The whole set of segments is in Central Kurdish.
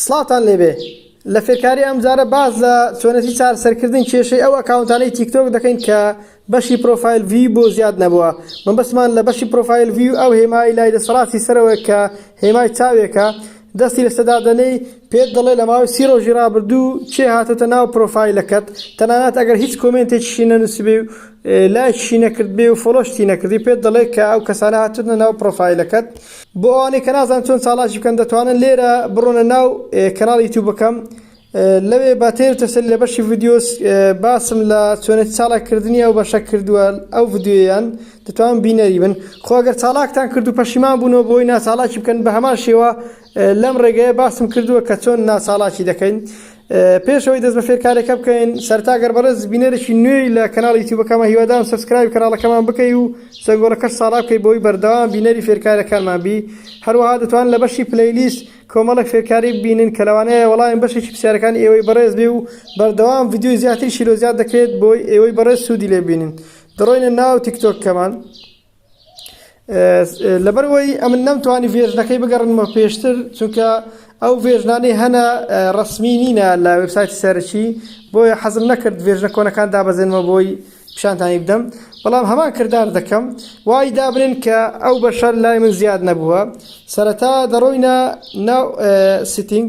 سڵاتان لێبێ لە فێرکاری ئەمجارە باز لە چۆنەتی چار سەرکردن کێشەی ئەو ئەکاونتانەی تیکتۆک دەکەین کە بەشی پرۆفایل وی بۆ زیاد نەبووە من بەسمان لە بەشی پرۆفایل وی و ئەو هێمای لای دەسەڵاتی سەرەوە کە هێمای چاوێکە دەستی لەسەدادەنەی پێت دەڵێ لە ماوەی سی ڕۆژی ڕابردوو چێ هاتۆتە ناو پرۆفایلەکەت تەنانەت ئەگەر هیچ کۆمنتێکیشی نەنووسبێ و لایشی نەکردبێ و فۆلۆشتی نەکردی پێت دەڵێ کە ئەو کەسانە هاتوونە ناو پرۆفایلەکەت بۆ ئەوانەی کە نازان چۆن چالاکی بکەن دەتوانن لێرە بڕۆنە ناو کەناڵی یوتیوبەکەم لەوێ بە تێر تەسەلی لە بەشی ڤیدیۆس باسم لە چۆنێتی چالاککردنی ئەو بەشە کردووە ئەو ڤیدیۆیان دەتوان بینەری بن خۆگەر چالاکتان کرد و پەشیمان بوونەوە بۆی ناچالاکی بکەن بە هەمان شێوە لەم ڕێگەیە باسم کردووە کە چۆن ناچالاکی دەکەین پێش ئەوەی دەست بە فێرکارێکە بکەین سەرتا گەر بەڕێز بینەرێکی نوێی لە کەناڵی یوتیوبەکەمان هیوادارم سەبسکرایبی کەناڵەکەمان بکەی و زەنگۆڵەکەش ساڵا بکەی بۆی بەردەوام بینەری فێرکاریەکانمان بی هەروەها دەتوان لە بەشی پلەیلیست کۆمەڵێک فێرکاری ببینن کە لەوانەیە وەڵامی بەشێکی پرسیارەکانی ئێوەی بەڕێز بێ و بەردەوام ڤیدیۆی زیاتری شیلۆ زیاد دەکرێت بۆی ئێوەی بەڕێز سوودی لێ ببینن دەڕۆینە ناو تیکتۆکەکەمان لەبەرئەوەی ئەمن نەمتوانی ڤێرژنەکەی بگەڕنمە پێشتر چونکە ئەو ڤێژنانەی هەنە ڕسمی نینە لە وبسایتی سەرەکی بۆیە حەزم نەکرد ڤێژنە کۆنەکان دابەزێنمە بۆی پیشانتانی بدەم بەڵام هەمان کردار دەکەم وای دابنێن کە ئەو بەشەر لای من زیاد نەبووە سەرەتا دەڕۆینە ناو سیتنگ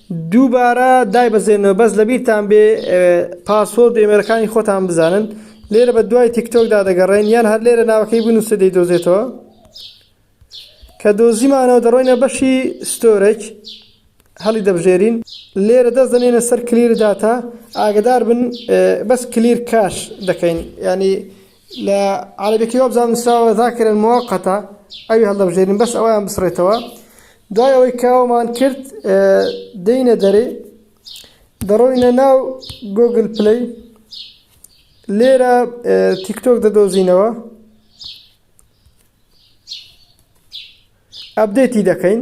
دووبارە دایبەزێنەوە بەس لەبیرتان بێ پاسۆرد و ئێمێلەکانی خۆتان بزانن لێرە بە دوای تیکتۆکدا دەگەڕێن یان هەر لێرە ناوەکەی بنووسە دەی دۆزێتەوە کە دۆزیمانەوە دەڕۆینە بەشی ستۆرەج هەڵی دەبژێرین لێرە دەست دەنێنە سەر کلیر داتا ئاگدار بن بەس کلیر کاش دەکەین ینی لە عەرەبیەکەی وابزانم نوسراوە ذاکرا موقتا ئەوی هەڵدەبژێرین بەس ئەویان بسڕێتەوە دوای ئەوەی کاوەمان کرد دەینە دەرێ دەڕۆینە ناو گۆگل پلی لێرە تیکتۆک دەدۆزینەوە ئەبدێتی دەکەین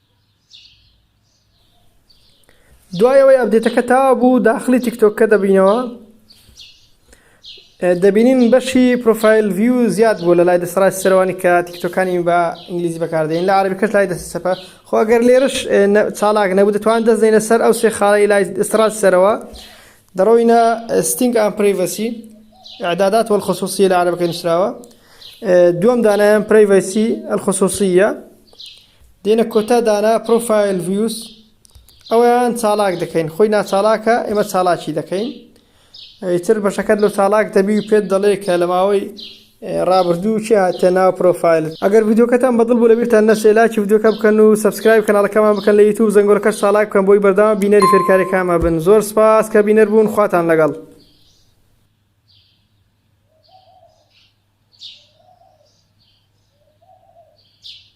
دوای ئەوەی ئەبدێتەکە تا بوو داخلی تیکتۆکە دەبینەوە دەبینین بەشی پروۆفایل ڤیو زیاد بوو لە لای دەسڕای سەروانی کە تیکتۆکانی بە ئینگلیزی بەکاردێن لە عربی کەش لای دەست سەپە خۆگەر لێرش چالاک نەبوو دەتوان دەستێن لەسەر ئەو سێ خاڵی لای دەسڕات سەرەوە دەڕۆینە ستینگ ئەم پرەیڤەسی عدادات وەل خصوصی لە عربەکە نووسراوە دووەم دانایان پرەیڤەسی ئەلخصوصیە دێنە کۆتا دانا پرۆفایل ڤیوس ئەویان چالاک دەکەین خۆی ناچالاکە ئێمە چالاکی دەکەین ئیتر بەشەکەت لە چالاک دەبی و پێت دەڵێ کە لە ماوەی ڕابردوو چی هاتە ناو پرۆفایل ئەگەر ڤیددیوکەتان بەدڵ بوو لەبیرتان نەچێ لاکی ڤیددیوکە بکەن و سبسکرایب کەناڵەکەمان بکەن لە یوتوب زەنگۆلەکەش ساڵاک بکەن بۆی بەردەوام بینەری فێرکارەکانمە بن زۆر سپاس کە بینەر بوون خواتان لەگەڵ